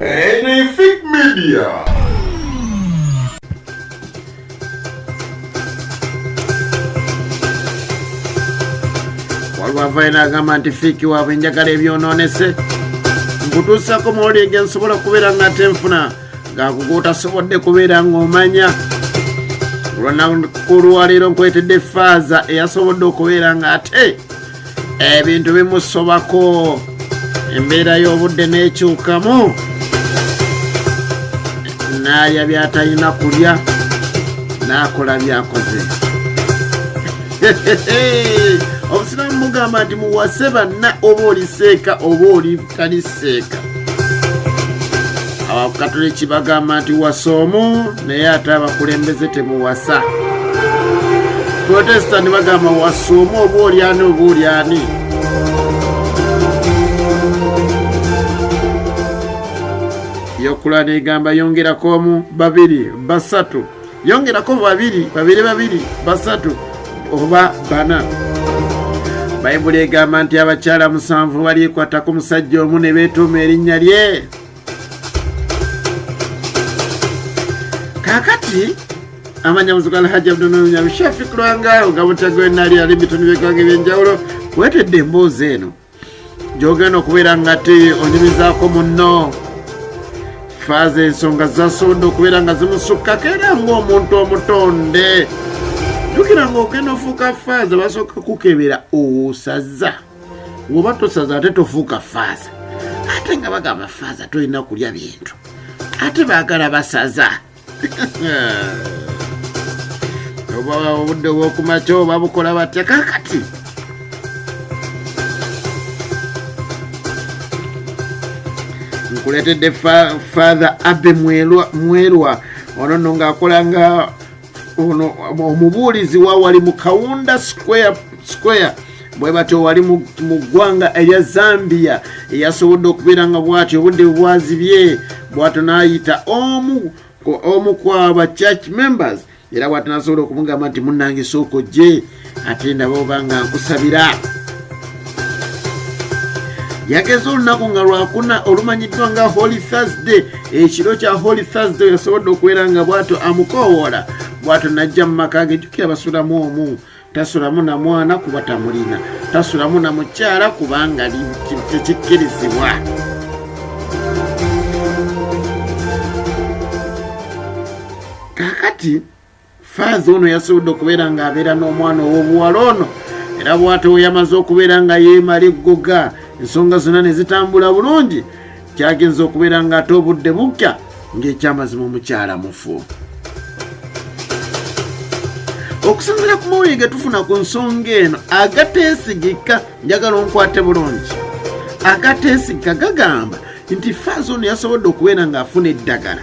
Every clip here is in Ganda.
Anything Media. wavaina agamba nti fiiki waabwe njagala ebyonoonese nkutuusako mawulire ge nsobola okubeera nga ate nfuna gakuguutasobodde kubeera ng'omanya olwanaku lwaleero nkwetedde faaza eyasobodde okubeera nga ate ebintu bimusobako embeera y'obudde n'ekyukamu n'alya byatalina kulya n'akola byakoze obusiraamu mugamba nti muwase banna oba oliseeka oba oli kanisa eka abakatuliki bagamba nti wasa omu naye ate abakulembeze temuwasa protestant bagamba wasa omu oba olyani oba olyani yokulana egamba yongerako omu babiri basatu yongerako babiri babiri babiri basatu oba bana bayibuli egamba nti abakyala musanvu balyekwata ku musajja omu ne beetuuma erinnya lye kaakati amanya muzigo alhaji abdununyalushafi kulwangaawo nga butagwenali ali bitundu byegwanga ebyenjawulo wetedde emboozi eno gyogenda okubeera nga ti onyumizaako munno faaza ensonga zasonda okubeera nga zimusukkako era ngaomuntu omutonde jukira nga ogenda ofuuka faaza basooka kukebera osaza ngaoba tosaza ate tofuuka faaza ate nga bagamba faaza tolina kulya bintu ate baagala basaza oba obudde bwokumakya oba bukola batya kakati nkuletedde father abe mwelwa ono no ngaakola nga ono omubuulizi wawali mu kawunda square square bwe batyo wali mu ggwanga erya zambia eyasobodde okubeera nga bwatyo obudde bwazibye bwatyo n'ayita omu omu kwaba church members era bwati nasobola okumugamba nti munange sooko gye ate ndaba oba nga nkusabira yageze olunaku nga lwakuna olumanyiddwa nga holy thursday ekiro kya holy thursday yasobodde okubeera nga bwatyo amukoowoola bwatyo najja mu maka ge jukira basulamu omu tasulamu na mwana kuba tamulina tasulamu na mukyala kubanga tekikkirizibwa kakati faaza ono yasobodde okubeera ng'abeera n'omwana ow'obuwala ono era bw'atewo yamaze okubeera nga yeemala eggoga ensonga zonna ne zitambula bulungi kyagenza okubeera ng'ate obudde bukya ng'ekyamazima omukyala mufu okusinzira ku mawulire ge tufuna ku nsonga eno agateesigika njagala onkwate bulungi agateesigika gagamba nti faaza ono yasobodde okubeera ng'afuna eddagala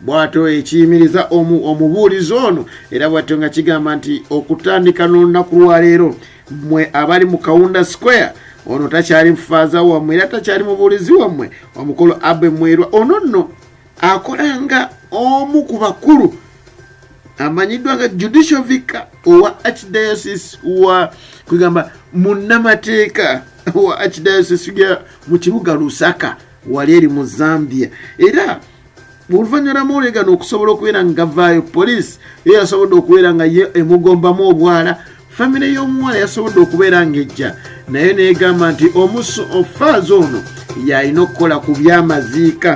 bwatyo ekiyimiriza omubuulizi ono era bwatyo nga kigamba nti okutandika n'olunaku lwaleero mwe abali mu kawunda square ono takyali mufaaza wammwe era takyali mubuulizi wammwe omukulu abe mwerwa ono nno akola nga omu ku bakulu amanyiddwa nga judicial vica owa archdiocese wa kwegamba munnamateeka wa archdiocese ya mu kibuga lusaka wali eri mu zambia era oluvannyuma mwolegana okusobola okubeera nga gavaayo poliisi ye yasobodde okubeera nga ye emugombamu obwala famire y'omuwala yasobodde okubeera ng'ejja naye neegamba nti omusu ofaaza ono yalina okukola ku byamaziika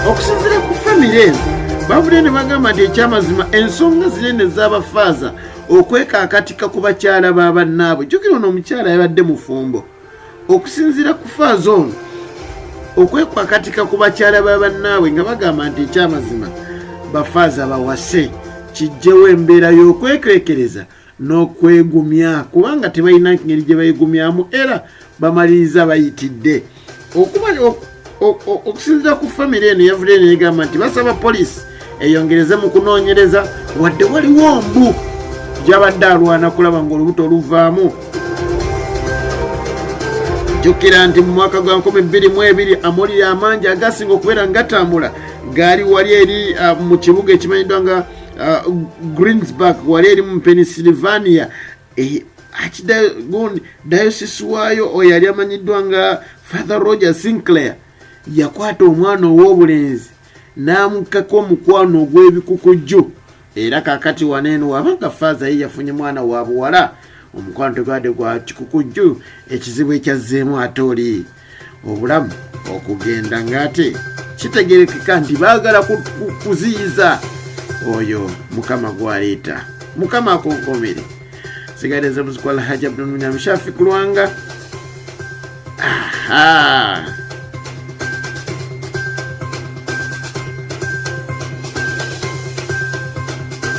okusinzira ku famire eno bavudde ne bagamba nti ekyamazima ensonga zinene z'abafaaza okwekaakatika ku bakyala ba bannaabwe jukira ono omukyala yabadde mufumbo okusinziira ku faaza ono okwekwakatika ku bakyala ba bannaabwe nga bagamba nti ekyamazima bafaaza bawase kijjewo embeera y'okwekwekereza n'okwegumya kubanga tebalina ngeri gye bayigumyamu era bamaliriza bayitidde okusinzira ku famire eno yavudde negamba nti basaba poliisi eyongereze mu kunoonyereza wadde waliwo mbu gyabadde alwana kulaba ngaolubuto oluvaamu jjukira nti mu mwaka gwa 22 amawulire amangi agasinga okubeera nga gatambula gaali wali eri ah, mu kibuga ekimanyiddwa nga ah, greensburg wali eri mu pennsylvania Eh, akidagon diocese waayo oyo yali amanyiddwa nga father roger sinclair yakwata omwana ow'obulenzi n'amukkako omukwano ogw'ebikukujju era kakati wano eno waba nga faaza ye yafunye mwana wa buwala omukwano tegwade gwa kikukujju ekizibu ekyazzeemu ate oli obulamu okugenda ng'ate kitegerekeka nti baagala kuziyiza oyo mukama gwaleeta mukama akonkomere sigade nze muziku alhaji abdulmunyamishafi kulwanga aha